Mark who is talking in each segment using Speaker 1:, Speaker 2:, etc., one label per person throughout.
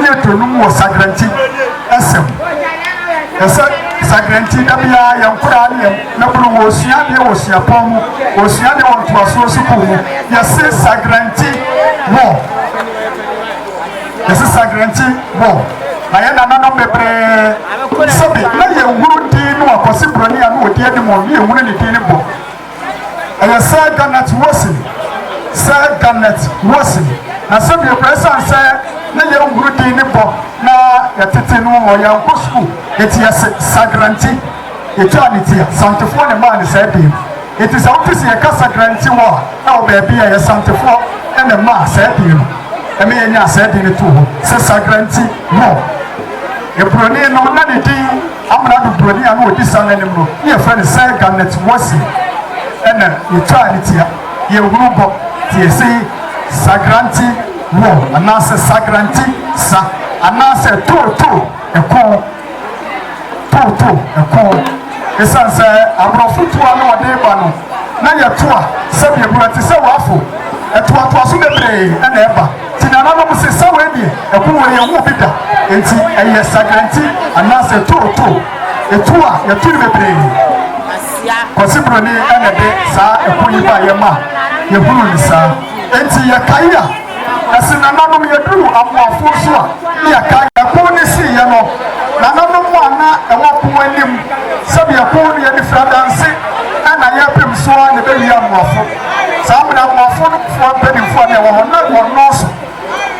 Speaker 1: ne aduonum wɔ Sagrenti sɛ mu. Ɛsɛ Sagrenti da biara yɛn nkoraa ne yɛn mmabunu wɔresua adeɛ wɔ suapɔn mu, wɔresua adeɛ wɔ ntoasoɔ sukuu mu. Yɛse Sagrenti wɔ. Yɛse Sagrenti wɔ. Na yɛn nananom bebree sɛbi na yɛhunu din no a Kwasi Buroni a na ɔdi anim no na yɛhunu ne din no bɔ. Ɛyɛ Sir Garnet Wilson, Sir Garnet Wilson. Na sɛdeɛ ɛkorɛ, ɛsiane sɛ na yɛnhunu din ne bɔ na yɛtete no wɔ yɛnkɔ sukuu, enti yɛse Sagranti. Yɛtwaa ne ti a, Santefoɔ na ɛmaa no saa din no. Enti sɛ wote sɛ yɛka Sagranti wɔ a, na wɔ baabi a ɛyɛ Santefoɔ na ɛmaa saa din no. Ɛma yɛnyaa saa din no too hɔ sɛ Sagranti Moor. Eburoni no, na ne din. Amena dodowani a na ɔdi saa no anim no, na yɛfrɛ no Sir Garnet Wolseley. Ɛnna yɛtwaa ne tia. Yɛn hunu bɔ, te yɛse Sagrante Wɔ, anaasɛ Sagrante Sa, anaasɛ Too Too Ɛko, Too Too Ɛko. Esiane sɛ aborɔfo tu a na wɔde reba no, na yɛto a sɛdeɛ ɛbura te sɛ wafo. Ɛtoatoaso bebree na ɛba. Ti nananom se sɛ wei deɛ ɛko wei yɛ nwo bi da enti ɛyɛ sagranti anaa sɛ too too etu a yɛto no bebree Kwasi Broni ɛna ɛde saa ɛko yi ba yɛ ma yɛhunu no saa enti yɛ kae a ɛse nananom yɛduru amoafoɔ so a ne yɛ kae ɛko ne si yɛ no nananom mu a na ɛwɔ ko anim sɛbi ɛko no yɛde firi adanse ɛna yɛ pem so a na ɛbɛ wie amoafo. Saa bere no aborɔfo no foɔ mpanimfoɔ a na ɛwɔ hɔ, na wɔnnɔɔso,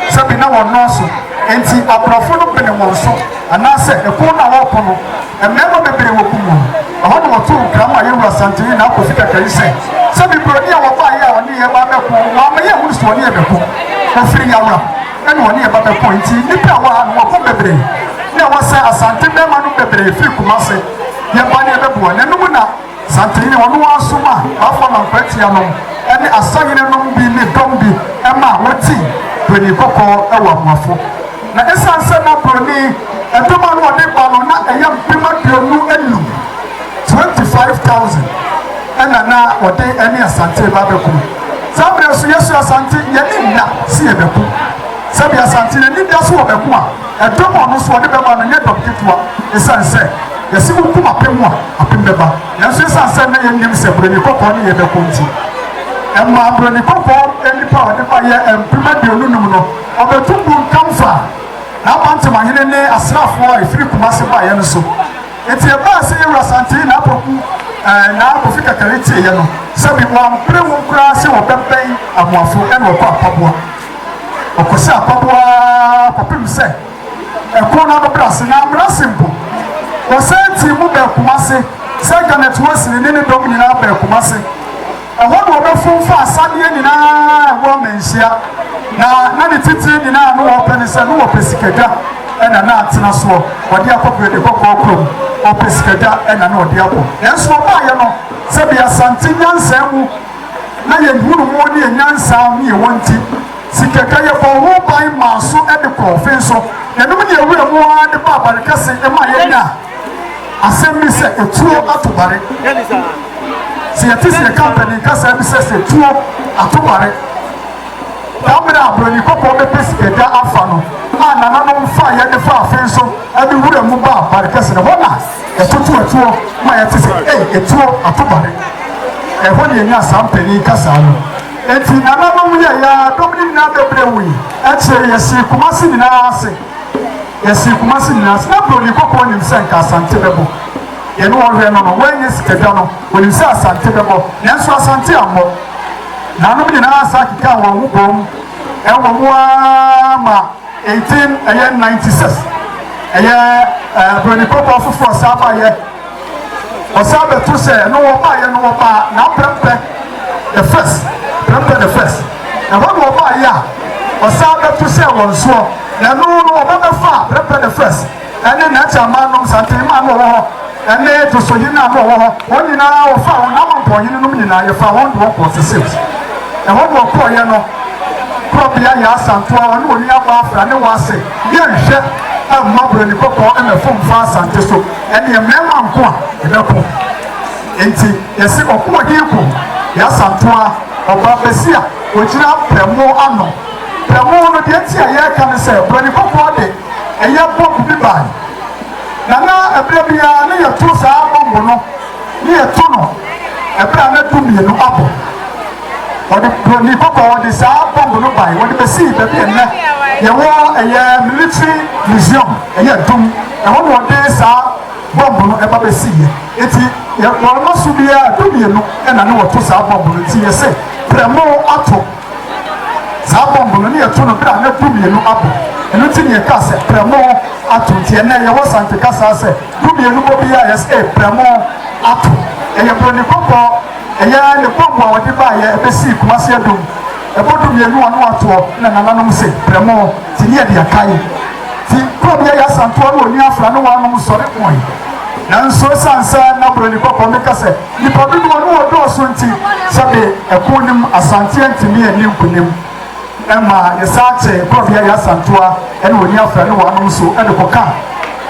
Speaker 1: sɛbi na wɔnnɔɔso, enti aborɔfo no benee wɔn so, anaasɛ ɛko no a wɔreko no, mmarima bebree wɔkum wɔn. Ɛhɔ na wɔtoo nkra maa yɛn wura Santen ne n'akofo kakari sɛ, sɛbi buroni a wɔbaeɛ a ɔne yɛn ba abɛko, wɔamma yɛanhunu sɛ ɔne yɛn bɛko. Ofiri Yawura na ɔne yɛn ba bɛko, enti nnipa a ɛwɔ ha no, wɔko bebree. Na ɛwɔ sɛ Asante barima nom bebree firi Kumase, yɛba na yɛbɛboa, na ɛno mu na. Santehene ɔno ara somaa Bafana Mprɛteɛ nom ne Asahene nom bi ne dɔm bi ma wɔtii Buroni Kɔkɔɔ wɔ Amoafo. Na ɛsiane sɛ na Buroni dɔm a na wɔde ba no na ɛyɛ mpem aduonu anum, 25,000, ɛna na wɔde ne Asante reba abɛko. Saa mmerɛ nso Yesu Asante yɛne nna se yɛbɛko. Sɛdeɛ Asante n'ani da so wɔ bɛko a ɛdɔm a ɔno nso ɔde bɛba no nyɛ dɔm ketewa ɛsiane sɛ Yɛse wokum apem mu a, apem bɛba. Nanso esiane sɛ na yennim sɛ Buroni Kɔkɔɔ ne yɛbɛko nti, ɛmaa Buroni Kɔkɔɔ nnipa a ɔde baeɛ mpem aduonu num no, ɔbɛto bunkam faa n'abantemahene ne asraafoɔ a efiri Kumasi baeɛ no so. Enti ɛbaa sɛ Yawuru Asantee na Apoku ɛɛ na Kofi Kakari teeɛ no, sɛbi wɔampere wɔn koraa sɛ wɔbɛbɛn Amoafo ɛna wɔkɔ Apaboa. Wɔkɔhyɛɛ Apaboa ara kɔpem sɛ Ɛko na bɛbrɛ ase na abrɛ ase mpo. Wɔsan tii mu bɛɛ Kumase sɛ Janet Wesley ne ne dɔm nyinaa bɛɛ Kumase. Ɛhɔ na wɔbɛfom fa asadeɛ nyinaa a ɛwɔ amanhyia na na ne titire nyinaa no wɔpɛ ne sɛ no wɔpɛ sikadwa ɛna na atena soɔ wɔde akɔ Bredi Kɔkɔɔ kurom wɔpɛ sikadwa ɛna na wɔde akɔ nanso wɔbaayɛ no sɛbi Asante nyansaa mu na yɛhunu mu ne yɛ nyansaa ne yɛ wɔn ti Sikakɛ yɛ bɔɔ ho ban maa so de kɔɔ fe nso ɛnom ne awura mu ara de baa bare kɛse ma yɛ nya asɛm bi sɛ etuo ato bare sɛ yɛ te sɛ yɛ ka mpanin kasa bi sɛ sɛ tuo ato bare da mmerɛ a broni kɔkɔɔ bɛpɛ sikakɛ afa no a nananom fa yɛ de fa afe nso ɛde wura mu baa bare kɛse no hɔ na ɛtoto atuo ma yɛ te sɛ etuo ato bare ɛhɔ ne yɛ nya saa mpanin kasa no Enti nananom yɛe ara, dɔm no nyinaa bɛbrɛɛ wui. Akyire yi, yɛsee Kumasi nyinaa ase. Yɛsee Kumasi nyinaa ase. Ná Buroni kɔkɔɔ nim sɛ anka Asante bɛbɔ. Yɛne wɔn hwɛɛ no no, wannya sika da no. Ɔnim sɛ Asante bɛbɔ, nanso Asante ammɔ. Nananom nyinaa san kekaa wɔn ho boom wɔ mu ara ma 18, ɛyɛ 96, ɛyɛ Buroni kɔkɔɔ foforɔ san baeɛ. Ɔsan bɛto sɛ, na wɔbaeɛ na wɔbaa n'aprɛmpɛ the first, prɛmpɛ the first. Ɛhɔ na wɔbaeɛ a ɔsan bɛto sɛ wɔn soɔ, na ɛno no wɔba bɛfa prɛmpɛ the first ɛne n'akyɛnman nom, Santenman no wɔwɔ hɔ, ɛne Dosohene no a na wɔwɔ hɔ. Wɔn nyinaa wɔfaa wɔn n'amampɔnhene nom nyinaa, yɛfaa wɔn de wɔn kɔɔ Sesims. Ɛhɔ na wɔkɔɔeɛ no, Korɔbea Yaa Asantoa, ɔne wɔn nuabaa Afra ne Wase, yɛnhwɛ amma Buroni Kɔkɔɔ mmɛfomfa Asante so. Ɛnneɛ mmarima nko a yɛbɛko. Enti yɛse ɔkoɔden ko, Yasantoa, ɔbaa basi a ɔgyina prɛmo ano. Prɛmo no, deɛ nti a yɛreka ne sɛ buroni kɔkɔɔ de ɛyɛ bɔmb bi baeɛ, na na ɛberɛ biara no yɛto saa bɔmb no. ne yɛto no ɛberɛ a na dumienu abɔ. Wɔde buroni kɔkɔɔ de saa bɔmb no bae, wɔde bɛsii baabi a nnɛ yɛwɔ ɛyɛ military museum, ɛyɛ dum, ɛhɔ na wɔde saa bɔmb no ɛba bɛsiiɛ. Enti yɛ wɔn so biara dumienu ɛna ne wɔto saa bɔmb no, enti yɛse prɛmo ato. Saa bɔmb no, ne yɛto no berɛ a na dumienu abɔ. Ɛno nti ne yɛkaa sɛ, Prɛmo ato. Nti ɛnnɛ yɛwɔ Sante kasaa sɛ, Dumienu bɔ biara yɛ sɛ, Ei, prɛmo ato. Ɛyɛ buroni kɔkɔɔ. Ɛyɛ ara ne bɔmb a wɔde baeɛ bɛsii Kumasi Adum. Ɛbɔ dumienu a na wɔatoɔ na nananom se, Prɛmo. Nti ne yɛde akae. Nti kuro bi a ɛyɛ Asantewa no, Onua Afra ne wɔanom sɔre koe. Nanso ɛsiane sɛ na buroni kɔkɔɔ meka sɛ, Nnipa dodoɔ no wɔdɔɔso nti sɛbe ɛko no mu Asante antumi anni nkonim ma yɛsan kye Nkurɔfoɔ Yaya Santua ne Oni Afra ne wɔanom so de kɔka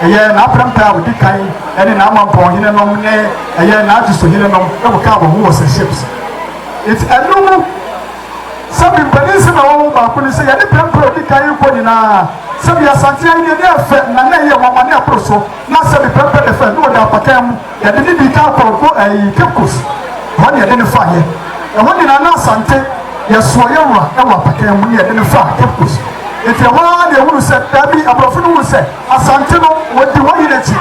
Speaker 1: ɛyɛ n'aprɛmpɛ a ɔdi kan ne n'amampɔn hene nom ne ɛyɛ n'agye so hene nom kɔkaa wɔn ho wɔ St. Shapes nti ɛno mu sɛbe mpanin nsɛm a ɛwɔ ho baako ne sɛ yɛne prɛmpɛ a ɔdi kan yi kɔ nyinaa sɛbe Asante ahenni ani yɛ fɛ na na ɛyɛ nwanwa ne ɛboro so na sɛbe prɛmpɛ de fɛ na ɔda apakan mu Yɛde ne di kan kɔnkɔ ɛɛ Caicos, ɛhɔ na yɛde no faa yɛ. Ɛhɔ nyinaa na Asante, yɛsoɔ yɛ wura ɛwɔ apakan mu na yɛde no faa Caicos. Nti ɛhɔ ara na yɛhunu sɛ daabi, aborɔfo no hunu sɛ Asante no wɔdi wɔn yere akyi,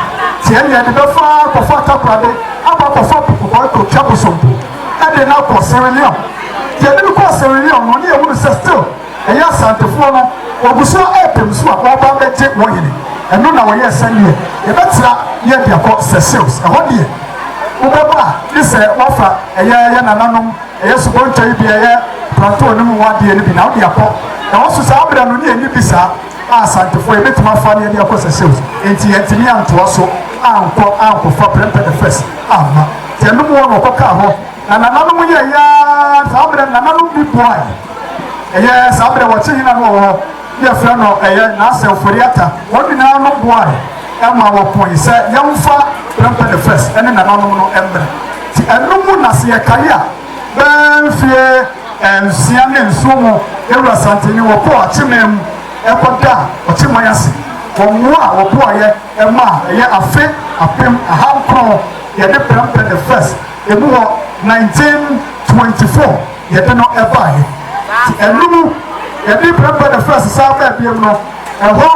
Speaker 1: nti ɛnna yɛde bɛfa akɔfa Takorade akɔ akɔfa Apokokɔ akɔtwa Bosompo ɛde no akɔ Sierra Leone. Nti yɛde no kɔɔ Sierra Leone no na yɛhunu sɛ still, Ɛyɛ Asantefoɔ no wɔgu so repem nso a wɔreba abɛgye wɔn hene. Ɛno na wɔyɛɛ sɛdeɛ yɛbɛtra ne yɛde akɔ Seychelles. Ɛhɔ deɛ wobɛba a gye sɛ woafa ɛyɛ yɛ nananom ɛyɛ subɔntwa yi bi a ɛyɛ Planteau no mu hɔ adeɛ no bi na wode akɔ. Ɛwɔ so saa berɛ no ne yɛnni bi saa a Asantefoɔ yɛbɛtumi afa ne yɛde akɔ Seychelles. Enti yɛantumi antoa so ankɔ ankɔfa Prempeh the First amma. Nti ɛno mu hɔ na wɔkɔkaa hɔ. Na nananom yɛeɛ ara saa berɛ no nananom bi boaeɛ. Ɛyɛ saa berɛ wɔte hena na ɔwɔ hɔ ne yɛfrɛ no ɛyɛ n'asɛmfode ata. Wɔn nyina ara no boae ma wɔpoe sɛ yɛmfa Prempeh the First ne nananom no mmrɛ. Nti ɛno mu na sɛ yɛkae a bɛɛ mfeɛ nsia ne nson mu yɛn wura Santene wɔkɔɔ Akyeman mu kɔ da ɔkyeman ase wɔ mmoa a wɔboaeɛ ma a ɛyɛ afe apem aha nkron yɛde Prempeh the First ɛmu hɔ 1924. yɛde no baeɛ. Nti ɛno mu yɛde Prempeh the First san baa biam no, ɛhɔ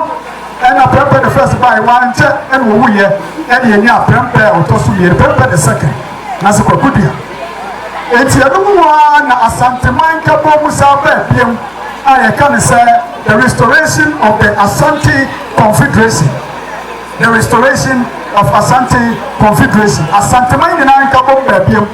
Speaker 1: ɛna Prempeh the First baeɛ, wankyɛ ɛna ɔwuiɛ, ɛna yɛnyaa Prempeh a ɔtɔ so mmienu, Prempeh the Second, Nase Kwaku Duah. Nti ɛno mu ara na Asanteman nkabom mu san baa biam a yɛka no sɛ the restoration of the Asante Confederation, the restoration of Asante Confederation, Asanteman nyinaa nkabom baa biam.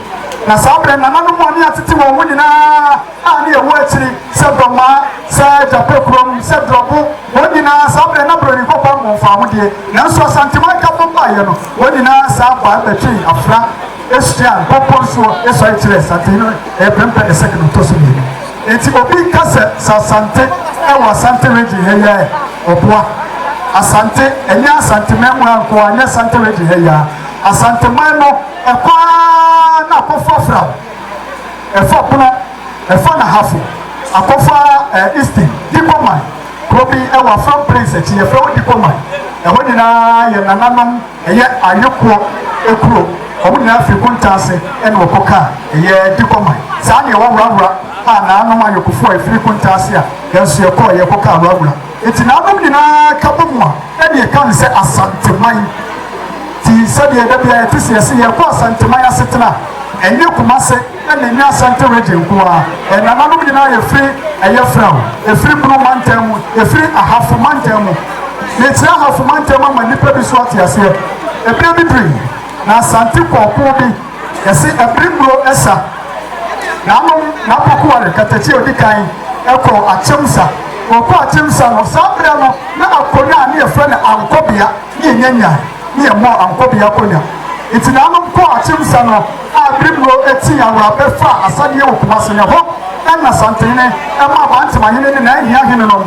Speaker 1: Na saa berɛ nananom a ne atete wɔn ho nyinaa a ne ɛwɔ akyiri sɛ dɔmmaa, sɛ gyapɛ kurom, sɛ drɔbo, wɔn nyinaa saa berɛ na Buroni Kɔkɔɔ no wɔmfaa ho deɛ, nanso Asanteman Kafo baeɛ no, wɔn nyinaa san bae bɛtwee afena hyiaa bepɔ nsuo sɔre kyerɛɛ Sante no ɛrepɛmpɛ ne sɛk no tɔ so mmienu. Enti obi nka sɛ sɛ Asante wɔ Asante Region ha yi a ɛ, ɔboa Asante, ɛnyɛ Asanteman mu ha nko ara, ɛnyɛ Asante Region ha yi ara, Asanteman no. Ɛkɔ ara na akɔfo afra wo. Ɛfa Bono, ɛfa Nahafo, akɔfa ɛɛ Easton, Dikoman, kuro bi ɛwɔ Afram Plains akyi, yɛfrɛ hɔ Dikoman. Ɛhɔ nyinaa yɛ nananom, ɛyɛ ayekoɔ kuro. Wɔn nyinaa firi Kuntaase ɛna wɔkɔ kaa ɛyɛ Dikoman. Saa na ɛwɔ Wrawura a naanom ayekofo a ɛfiri Kuntaase a yɛn nso yɛkɔɔ yɛkɔ kaa Wrawura. Agyinanom nyinaa ka bɔ mu a, ɛne yɛka no sɛ Asanteman. Ti sɛdeɛ da biara yɛte se yɛse yɛrekɔ Asanteman asetena a, ɛnyɛ Kumase na ɛnyɛ Asante Region nko ara. Yɛn nananom nyinaa yɛfiri ɛyɛ Frao, yɛfiri Bono Mantam mu, yɛfiri Ahafo Mantam mu. Mekyerɛ Ahafo Mantam ama nnipa bi nso ate aseɛ. Ɛberɛ bi duru yi, na Asante kɔɔkoo bi, Yɛse ɛbere muro ɛsa. Nanom n'apokoa no katakyi a odi kan ɛkɔɔ akyɛmsa. Ɔkɔɔ akyɛmsa no saa berɛ no na akonya a ne yɛfrɛ no ankɔbea ne yɛnya nya ne yɛmmɔɔ ankɔbea akonya. Nti nanom kɔɔ akyɛmsa no a ɛbere muro ɛtii awura bɛfaa asadeɛ wɔ Kumase na ɛhɔ na Asantenhene ɛmaa Abantemahene ne n'ahiahene nom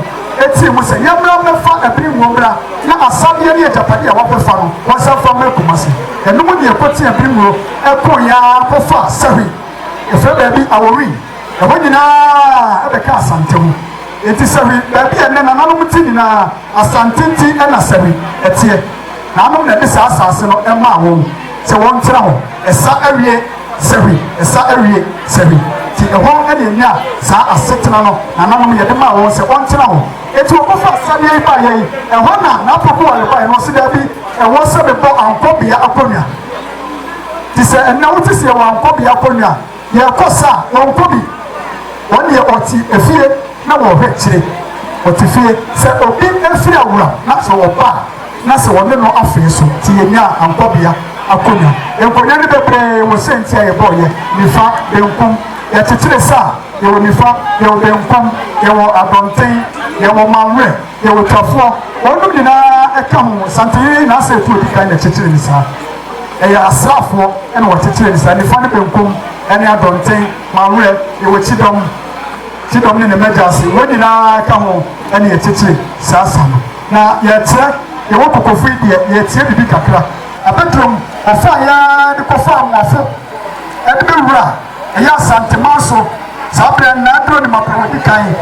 Speaker 1: teɛɛ mu sɛ, Yɛmmra mmɛfa Abiri Ngo mmra na asadeɛ ne agyapadeɛ a wɔakɔfa no, wɔnsan fa mmra Kumasi. Ɛno mu deɛ ɛkɔtee Abiri Ngo kooeɛ ara kɔfaa Sahwi, ɛfrɛ baabi Awowin, ɛhɔ nyinaa bɛkaa Asante ho. Enti Sahwi, baabi a ɛnnɛ nananom te nyinaa, Asante nti na Sahwi teɛ. Naanom na ɛde saa asaase no maa wɔn sɛ wɔntra hɔ. Ɛsa awie. Sɛhwi, ɛsa awie, sɛhwi. Nti ɛhɔ na yɛnya saa asetena no nananom yɛde maa wɔn sɛ wɔntena hɔ. Enti wɔkɔfa asadeɛ yi baeɛ yi, ɛhɔ na n'apokowa rebaeɛ no ɔse daabi, ɛwɔ sɛ mebɔ ankɔbea akonnwa. Nti sɛ ɛnnɛ wote sɛ yɛwɔ ankɔbea akonnwa a, yɛrekɔ sa a, wɔnkɔ bi. Wɔn deɛ wɔte efie. na wɔhwɛ kyire wɔte fie sɛ obi firi awuram na sɛ ɔba a na sɛ wɔne no afee so nti yɛnyaa ankɔbea akonwa nkonwa no bebree wɔ sɛ nti a yɛbɔɔ yɛ nifa benkum yɛkyekyere sɛ a yɛwɔ nifa yɛwɔ benkum yɛwɔ adɔnten yɛwɔ manwerɛ yɛwɔ twafoɔ wɔnom nyinaa ɛka ho santeyere na asɛ ɛtu odi kan na kyekyere ne saa ɛyɛ asraafoɔ ɛna wɔkyekyere ne saa nifa ne benkum ɛne adɔnten manwerɛ yɛwɔ kyidɔm Gye dɔm ne ne Mmɛgya ase, wɔn nyinaa ka ho na yɛkyekye saa sa no. Na yɛkyerɛ, yɛwɔ kokofo yi deɛ, yɛkyerɛ biribi kakra. Abɛdrom, wɔfaa yɛ ara de kɔfaa Mmoafo de bɛwura a ɛyɛ Asanteman so. Saa berɛ no, na Aduro ne Mapɛ wɔdi kan.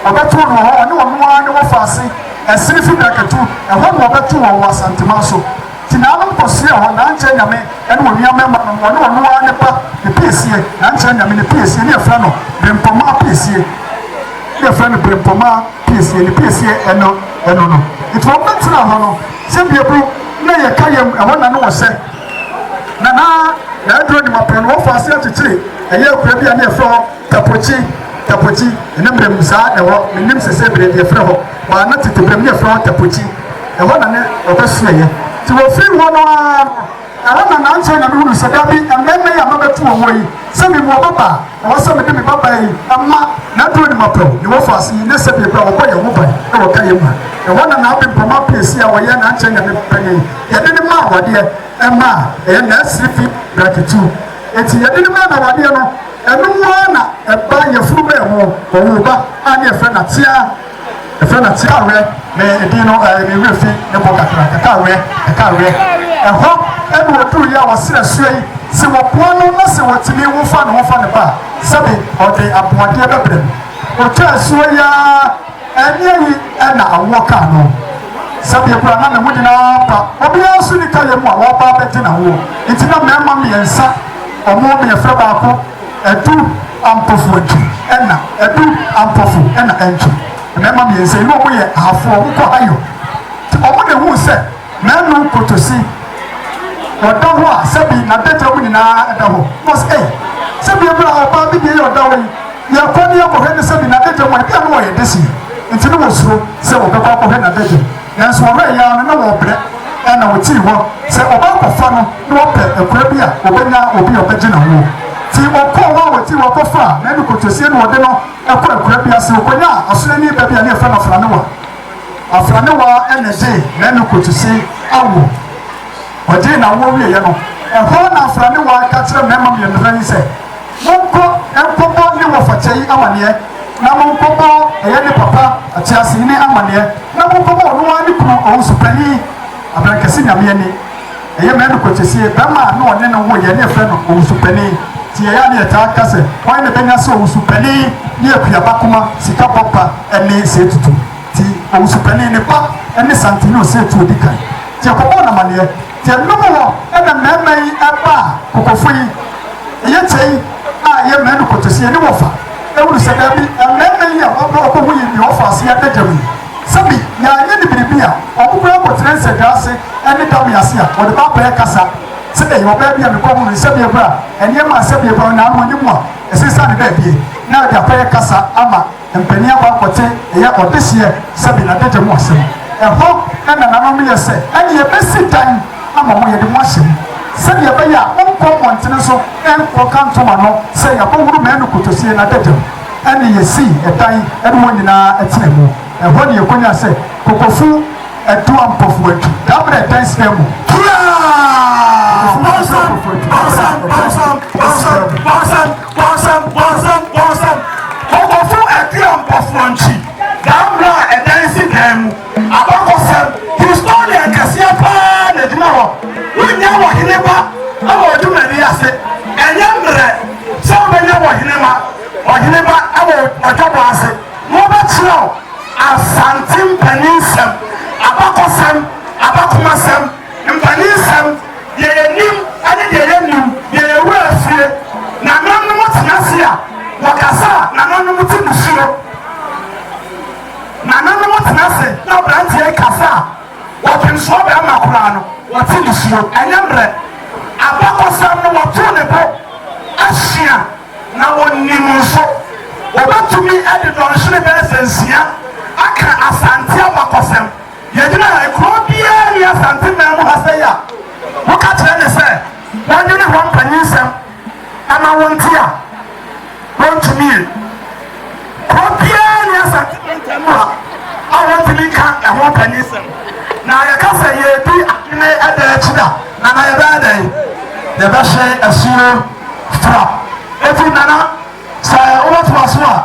Speaker 1: Wɔbɛtoo no wɔ hɔ, ɔne wɔn ara ne wɔfaa se, Ɛsene fi Bɛkatu, ɛhɔ na wɔbɛtoo wɔn wɔ Asanteman so. Nti naanom kɔsoɛɛ hɔ, naa nkyɛɛ Nyame ne wɔn nuammarima nom, wɔne ɔno ara ne ba, ne piesie, naa nkyɛɛ Nyame ne piesie, ne yɛfrɛ no Birempɔmaa piesie, ne yɛfrɛ no Birempɔmaa piesie, ne piesie ɛno, ɛno no. Nti wɔn bɛtenaa hɔ no, sɛ bieburo na ɛyɛ ka yam, ɛhɔ na ne wɔhyɛ. Na naa, naa aduro nim apɔn no, wɔfaa aseɛ kyekyere ɛyɛɛ kura bi a ne yɛfrɛ hɔ, Tapokye, Tapokye, Nnɛ mmerɛ mu saa na ɛwɔ, mennim sɛ sɛ berɛ deɛ yɛfrɛ hɔ, baa na tete berɛ mu na yɛfrɛ hɔ Tapokye, ɛhɔ na ne ɔbɛsoɛeɛ. Nti wɔfirii hɔ no ara no, ɛhɔ na nankyɛ na mehunuu sɛ dabi, mmarima yi a mabɛto wɔn wɔ yi, sɛ mewɔ ɔbabaa, ɛwɔ sɛ mede me babaa yi ma n'aduro ne m'apɛw, ne wɔfa ase yi, ne sɛdeɛ berɛ a wɔbɔ yɛn ho ban wɔ ka yɛn mu ha. Ɛhɔ na n'abempam apiesie a wɔyɛ nankyɛ na me pɛ yei, yɛde no maa awadeɛ, ɛma a ɛyɛ nursery feed, braketu. Nti yɛde no maa no awadeɛ no, Ɛno nko ara na ɛba yafuruba mu, ɔwoo ba a ne yɛfrɛ no Atea, yɛfrɛ no Atea Awerɛ, ne edin no ɛɛ ne werɛ fi ne bo kakra, Kɛkɛ Awerɛ, Kɛkɛ Awerɛ. Ɛhɔ na ɔduruiɛ a wɔsrɛ asuo yi, sɛ wɔboa no na sɛ wɔtumi wo fa ne ho fa ne ba a, sɛbe ɔde aboadeɛ bɛbrɛ no. Ɔtwaa asuo yi ara, ɛnneɛ yi na awoɔ kaa no. Sɛdeɛ kura na ne ho nyinaa apa, obiara nso nni kayɛ mu a wɔreba abɛgye n'awoɔ, nti na mmarima mmiɛnsa. Ɔmo mmiɛnsa baako adu ampofo akyi ɛna adu ampofo ɛna ankyi mmarima mmiɛnsa yi na ɔmo yɛ ahafoɔ ɔmo kɔ hayo nti ɔmo na ehuu sɛ mɛnu kotosi ɔda hɔ a sɛbi n'adagya mu nyinaa ɛda hɔ na ɔsɛ ei sɛbi ebira ɔbaa bi deɛ yɛ ɔda hɔ yi yɛkɔ ne yɛkɔhwɛ ne sɛbi n'adagya mu a ebi a na ɔyɛ deseɛ nti na wɔsuro sɛ wɔbɛkɔ akɔhwɛ n'adagya mu. Nanso wɔwerɛ yɛɛ ara no, na wɔrebrɛ, ɛnna wɔtii hɔ sɛ wɔbɛkɔfa no na wɔpɛ akura bi a wɔbɛnya obi a ɔbɛgye ne ho. Nti wɔkɔɔ hɔ a wɔtii hɔ kɔfaa n'ani kotosie na wɔde no kɔɔ akura bi ase. Wɔkɔnyaa ɔsraani ba bi a na yɛfrɛ no Afranewa. Afranewa na ɛgyee n'ani kotosie awoɔ. Ɔgyee n'awoɔ wieeɛ no, ɛhɔ na Afranewa ka kyerɛɛ mmarima mmiɛnsa yi sɛ, Monkɔ nkɔbɔ ne wɔfakyɛ yi amaneɛ, na monkɔbɔ ɛyɛ ne papa ateasehene amaneɛ, na monkɔbɔ ɔno ara ne kunu owusopanin abrankɛse nyame ani. Ɛyɛ me anokwakyɛsie, bɛrima a ne ɔne no woeɛ ne yɛfrɛ no owusopanin, nti ɛyɛ a ne yɛtaa ka sɛ hwan na ɛbɛnya sɛ owusopanin ne akuaba kuma sika bɔ pa ne seetutu, nti owusopanin ne ba ne santene oseetu ɔdi kan, nti yɛkɔbɔɔ no amaneɛ. Yɛnom wɔ na mɛɛma yi ɛba a kokofo yi yɛ kyɛi a yɛ mɛɛno koto sɛ yɛne wɔ fa ɛwuru sɛ daabi mɛɛma yi a wɔbɛ ɔbɔ ho yi ne ɔfa ase yɛ dɛdɛm yi sɛ bi yɛ anyɛ ne biribi a ɔmo kura kɔ tena nsɛ dwa ase ɛne dam yɛ ase a wɔde ba pɛɛ kasa sɛ dɛ yɛ ɔbɛ bi a mekɔ ho no nsɛ bi ɛbra ɛneɛ ma nsɛ bi ɛbra na ano ɔne mu a ɛsɛ sane dɛ bie na ɛde apɛɛ kasa ama Mpanin akɔ akɔte ɛyɛ ɔdehyeɛ sɛbe adagya mu asɛm. Ɛhɔ na nananom no yɛ sɛ, Ɛne yɛbɛsi dan ama mo, yɛde mo ahyɛ mu, sɛdeɛ ɛbɛyɛ a monkɔ mmɔntene nso nkɔ ka ntom ano sɛ yɛakɔhuru Manu kotosie no adagya mu. Ɛne yɛsii ɛdan ɛne wɔn nyinaa tenaa mu. Ɛhɔ ne yɛkɔnyaa sɛ kokofu adu ampɔfoɔ adu daberɛ ɛdan si dan mu. Kokofu adu ampɔfoɔ adu daberɛ ɛdan si dan mu. Bɔnsam, bɔnsam, bɔnsam, kɔkɔfo Atiriampɔfoɔ nkyi, daa mmerɛ a ɛdan si dan mu, abakɔsɛm, historian kɛseɛ paa na ɛgyina hɔ, wonnya wɔhene ba wɔ odwumadie ase, ɛnyɛ mmerɛ sɛ wobɛnya wɔhene ma, ɔhene ba wɔ ɔdwabɔ ase, mobɛkyerɛw Asante mpanin nsɛm, abakɔsɛm, abakomasɛm, Mfaninsɛm, Deɛ yɛnim ne deɛ yɛnnim, deɛ yɛn werɛ afie, Nananom te ase a, wɔkasa a nananom te mu suro, Nananom te ase na aberanteɛ rekasa a, ɔdwemsoɔ barima koraa no, wɔte ne suro. Ɛnyɛ mmerɛ. Abakɔsɛm no, wɔto ne bo asua na wɔnim nso. Wɔbɛtumi de dɔnhwere bɛyɛ sɛ nsia aka Asante abakɔsɛm. Yɛgyina ha yi, kuro biara nni Asante man mu ha sɛi a woka kyerɛ ne sɛ wɔnwene hɔ mpanyinsɛm ɛma wo nte a wɔntumi ye. Kuro biara nni Asante mantam mu ha a wɔntumi nka ɛho mpanyinsɛm. Na yɛka sɛ yɛredi adwene ɛda akyi da na na yɛbɛyɛ dɛn? Yɛbɛhye asuo fra. Eti nana sɛ wobɛtoa so a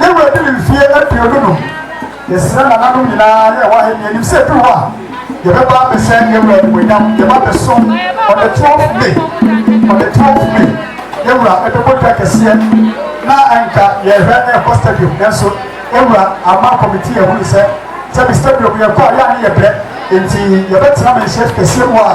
Speaker 1: Gabriel de ne mfeɛ aduonu num. Yɛsrɛ nananom nyinaa ne ɛwɔ Ahenni anim sɛ ɛduru hɔ a, yɛbɛba abɛhyɛ Gabriel animuonyam. Yɛba abɛsom on the 12th May. On the 12th May, yɛn wura ɛbɛbɔ dwa kɛseɛ na anka yɛhwɛ na ɛkɔ stadium. Nanso yɛn wura ama kɔmitii ahunu sɛ sɛbi stadium yɛkɔ a yɛ a ne yɛbrɛ. Enti yɛbɛtena manhyia kɛseɛ mu a.